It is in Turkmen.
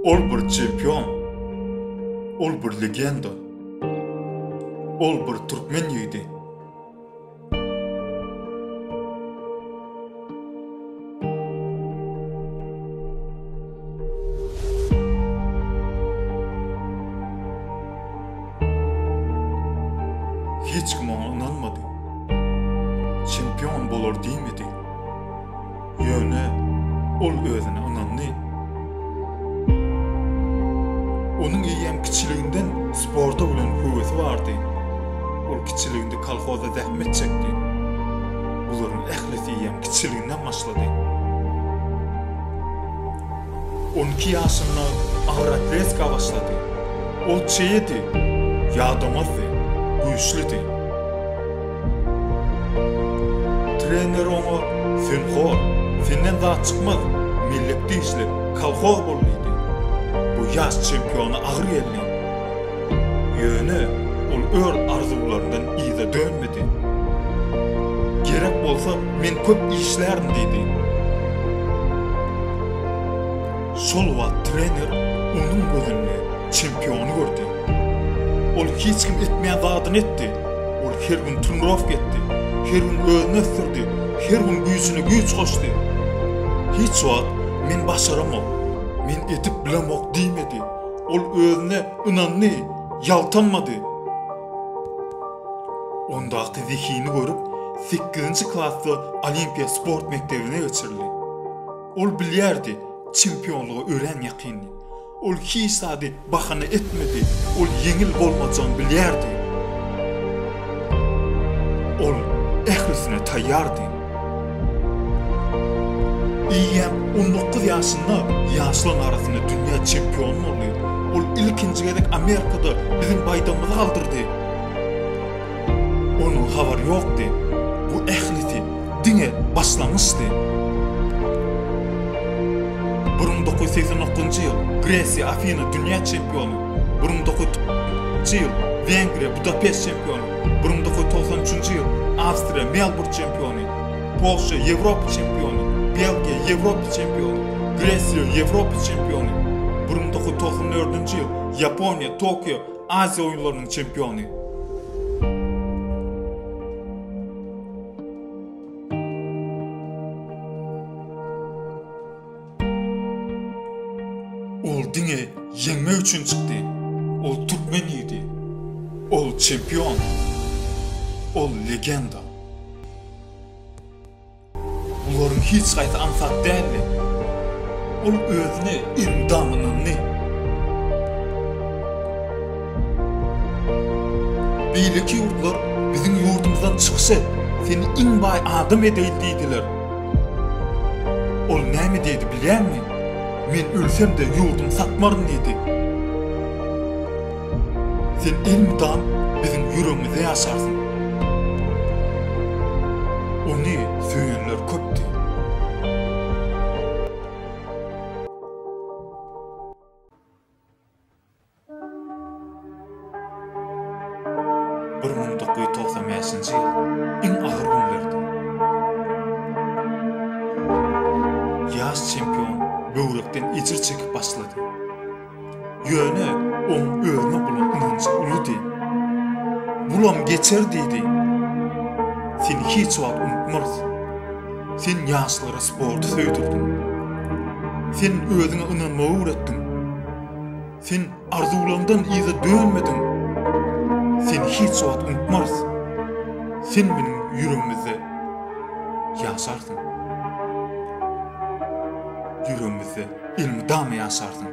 Ol bir çempion, ol bir legenda, ol bir türkmen ýigidi. Hiç kim oňa ynanmady. Çempion bolar diýmedi. Ýöne ol özüne ynandy. Onuň eýýäm kiçiliginden sporta bolan höwesi bardy. Ol kiçiliginde kolhozda zähmet çekdi. Bularyň ählisi eýýäm kiçiliginden başlady. On iki ýaşynda agyr atletika başlady. Ol çeýedi, ýadamazdy, güýçlüdi. Trener oňa, Sen hor, senden zat çykmaz, mellekde işle, kolhoz bol diýdi. Bu ýaş çempiona agyr geldi. Ýöne ol öz arzuwlaryndan yza dönmedi. Gerek bolsa, men köp işlärin diýdi. Şol wagt trener onuň gözünde çempiony gördi. Ol hiç kim etmeýän zadyny etdi. Ol her gün trenirovka etdi, her gün özüni ösdürdi, her gün güýjüne güýç goşdy. Hiç wagt Men başaramok, men edip bilemok diýmedi. Ol özüne ynandy, ýaltanmady. Ondaky zehini görüp, sekizinji klasda Olimpiýa sport mekdebine geçirildi. Ol bilýärdi, çempionlyga örän ýakyndy. Ol hiç zady bahana etmedi. Ol ýeňil bolmajagyny bilýärdi. Ol ählisine taýýardy. Eýýäm on dokuz ýaşynda ýaşlaryň arasynda dünýä çempiony boldy. Ol ilkinji gezek Amerikada biziň baýdagymyzy galdyrdy. Onuň habary ýokdy. Bu ählisi. Diňe başlangyçdy. Bir müň dokuz ýüz segsen dokuzynjy ýyl, Gresiýa, Afina, dünýä çempiony, bir müň dokuz ýüz togsan üçünji ýyl, Wengriýa, Budapest çempiony, bir müň dokuz ýüz togsan üçünji ýyl, Awstriýa, Melburn çempiony, Polşa, Ýewropa çempiony, Belgiýa, Ýewropa çempiony, Gresiýa, Ýewropa çempiony, bir müň dokuz ýüz togsan dördünji ýyl, Ýaponiýa, Tokio, Aziýa oýunlarynyň çempiony. Ol diňe ýeňmek üçin çykdy. Ol türkmen ýigidi. Ol çempion. Ol legenda. Bularyň hiç haýsy aňsat däldi. Ol özüne endam ynandy. Beýleki ýurtlar biziň ýurdumyzdan çykyş et, seni iň baý adam edeýin diýdiler. Ol näme diýdi bilýäňmi? Men ölsem-de ýurdumy satmaryn diýdi. Sen elmydam biziň ýüregimizde ýaşarsyň. Ony söýenler köpdi. Bir müň dokuz ýüz togsan bäşinji ýyl iň agyr günlerdi. Ýaş çempion böwrekden ejir çekip başlady. Ýöne oň özüne bolan ynanjy uludy. Bulam geçer diýdi. Seni hiç wagt unutmarys. Sen ýaşlara sporty söýdürdiň. Sen özüňe ynanmagy öwretdiň. Sen arzuwlaňdan yza dönmediň. Seni hiç wagt unutmarys. Sen meniň ýüregimizde ýaşarsyň. Ýüregimizde elmydama ýaşarsyň.